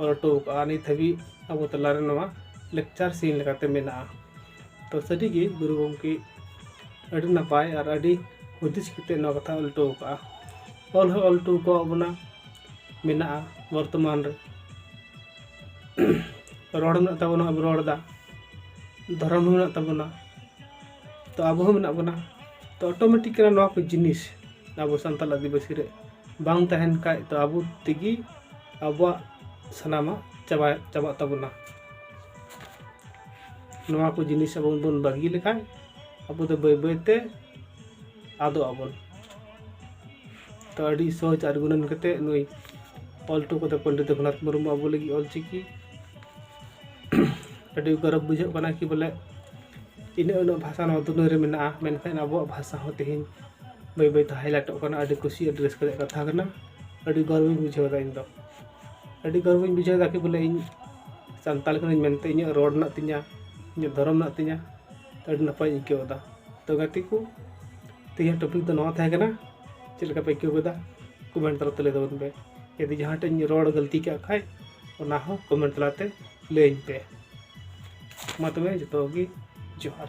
ᱚᱞ ᱦᱚᱴᱚ ᱟᱠᱟᱫᱼᱟ ᱱᱤᱛ ᱦᱟᱹᱵᱤᱡ ᱟᱵᱚ ᱛᱟᱞᱟ ᱨᱮ ᱱᱚᱣᱟ ᱞᱮᱠᱪᱟᱨ ᱥᱤᱱ ᱞᱮᱠᱟᱛᱮ ᱢᱮᱱᱟᱜᱼᱟ ᱛᱚ ᱥᱟᱹᱨᱤ ᱜᱮ ᱜᱩᱨᱩ ᱜᱚᱢᱠᱮ ᱟᱹᱰᱤ ᱱᱟᱯᱟᱭ ᱟᱨ ᱟᱹᱰᱤ ᱦᱩᱫᱤᱥ ᱠᱟᱛᱮᱫ ᱱᱚᱣᱟ ᱠᱟᱛᱷᱟᱭ ᱚᱞ ᱦᱚᱴᱚ ᱟᱠᱟᱫᱼᱟ ᱚᱞ ᱦᱚᱸᱭ ᱚᱞ ᱦᱚᱴᱚ ᱟᱠᱟᱫ ᱵᱚᱱᱟ ᱢᱮᱱᱟᱜᱼᱟ ᱵᱚᱨᱛᱚᱢᱟᱱ ᱨᱮ ᱨᱚᱲ ᱢᱮᱱᱟᱜ ᱛᱟᱵᱚᱱᱟ ᱟᱵᱚ ᱨᱚᱲ ᱮᱫᱟ ᱫᱷᱚᱨᱚᱢ ᱦᱚᱸ ᱢᱮᱱᱟᱜ ᱛᱟᱵᱚᱱᱟ ᱛᱚ ᱟᱵᱚ ᱦᱚᱸ ᱢᱮᱱᱟᱜ ᱵᱚᱱᱟ ᱛᱚ ᱚᱴᱳᱢᱮᱴᱤᱠ ᱠᱟᱱᱟ ᱱᱚᱣᱟ ᱠᱚ ᱡᱤᱱᱤᱥ ᱟᱵᱚ ᱥᱟᱱᱛᱟᱲ ᱟᱹᱫᱤᱵᱟᱹᱥᱤ ᱨᱮ ᱵᱟᱝ ᱛᱟᱦᱮᱱ ᱠᱷᱟᱱ ᱛᱚ ᱟᱵᱚ ᱛᱮᱜᱮ ᱟᱵᱚᱣᱟᱜ ᱥᱟᱱᱟᱢᱟᱜ ᱪᱟᱵᱟ ᱪᱟᱵᱟᱜ ᱛᱟᱵᱚᱱᱟ ᱱᱚᱣᱟ ᱠᱚ ᱡᱤᱱᱤᱥ ᱟᱵᱚ ᱵᱚᱱ ᱵᱟᱹᱜᱤ ᱞᱮᱠᱷᱟᱱ ᱟᱵᱚ ᱫᱚ ᱵᱟᱹᱭ ᱵᱟᱹᱭᱛᱮ ᱟᱫᱚᱜ ᱟᱵᱚᱱ ᱛᱚ ᱟᱹᱰᱤ ᱥᱚᱦᱚᱡᱽ ᱟᱨ ᱜᱩᱱᱟᱹᱱ ᱠᱟᱛᱮ ᱱᱩᱭ ᱚᱞ ᱦᱚᱴᱚ ᱠᱟᱫᱟ ᱯᱚᱱᱰᱤᱛ ᱨᱚᱜᱷᱩᱱᱟᱛᱷ ᱢᱩᱨᱢᱩ ᱟᱵᱚ ᱞᱟᱹᱜᱤᱫ ᱚᱞᱪᱤᱠᱤ ᱟᱹᱰᱤ ᱜᱚᱨᱚᱵᱽ ᱵᱩᱡᱷᱟᱹᱜ ᱠᱟᱱᱟ ᱠᱤ ᱵᱚᱞᱮ ᱤᱱᱟᱹᱜ ᱩᱱᱟᱹᱜ ᱵᱷᱟᱥᱟ ᱱᱚᱣᱟ ᱫᱩᱱᱤᱭᱟᱹ ᱨᱮ ᱢᱮᱱᱟᱜᱼᱟ ᱢᱮᱱᱠᱷᱟᱱ ᱟᱵᱚᱣᱟᱜ ᱵᱷᱟᱥᱟ ᱦᱚᱸ ᱛᱮᱦᱮᱧ ᱵᱟᱹᱭ ᱵᱟᱹᱭᱛᱮ ᱦᱟᱭᱞᱟᱭᱤᱴᱚᱜ ᱠᱟᱱᱟ ᱟᱹᱰᱤ ᱠᱩᱥᱤ ᱟᱹᱰᱤ ᱨᱟᱹᱥᱠᱟᱹ ᱨᱮᱭᱟᱜ ᱠᱟᱛᱷᱟ ᱠᱟᱱᱟ ᱟᱹᱰᱤ ᱜᱚᱨᱵᱤᱧ ᱵᱩᱡᱷᱟᱹᱣᱫᱟ ᱤᱧᱫᱚ ᱟᱹᱰᱤ ᱜᱚᱨᱵᱤᱧ ᱵᱩᱡᱷᱟᱹᱣᱫᱟ ᱠᱤ ᱵᱚᱞᱮ ᱤᱧ ᱥᱟᱱᱛᱟᱲ ᱠᱟᱹᱱᱟᱹᱧ ᱢᱮᱱᱛᱮ ᱤᱧᱟᱹᱜ ᱨᱚᱲ ᱢᱮᱱᱟᱜ ᱛᱤᱧᱟᱹ ᱤᱧᱟᱹᱜ ᱫᱷᱚᱨᱚᱢ ᱢᱮᱱᱟᱜ ᱛᱤᱧᱟᱹ ᱟᱹᱰᱤ ᱱᱟᱯᱟᱭᱤᱧ ᱟᱹᱭᱠᱟᱹᱣᱫᱟ ᱛᱳ ᱜᱟᱛᱮ ᱠᱚ ᱛᱮᱦᱮᱧᱟᱜ ᱴᱚᱯᱤᱠ ᱫᱚ ᱱᱚᱣᱟ ᱛᱟᱦᱮᱸ ᱠᱟᱱᱟ ᱪᱮᱫ ᱞᱮᱠᱟ ᱯᱮ ᱟᱹᱭᱠᱟᱹᱣ ᱠᱮᱫᱟ ᱠᱚᱢᱮᱱᱴ ᱛᱟᱞᱟᱛᱮ ᱞᱟᱹᱭ ᱛᱟᱵᱚᱱ ᱯᱮ ᱡᱩᱫᱤ ᱡᱟᱦᱟᱸ ᱴᱷᱮᱱ ᱤᱧ ᱨᱚᱲ ᱜᱟᱹᱞᱛᱤ ᱠᱟᱜ ᱠᱷᱟᱡ ᱚᱱᱟ ᱦᱚᱸ ᱠᱚᱢᱮᱱᱴ ᱛᱟᱞᱟᱛᱮ ᱞᱟᱹᱭᱟᱹᱧ ᱯᱮ ᱢᱟ ᱛᱚᱵᱮ ᱡᱚᱛᱚ ᱠᱚᱜᱮ ᱡᱚᱦᱟᱨ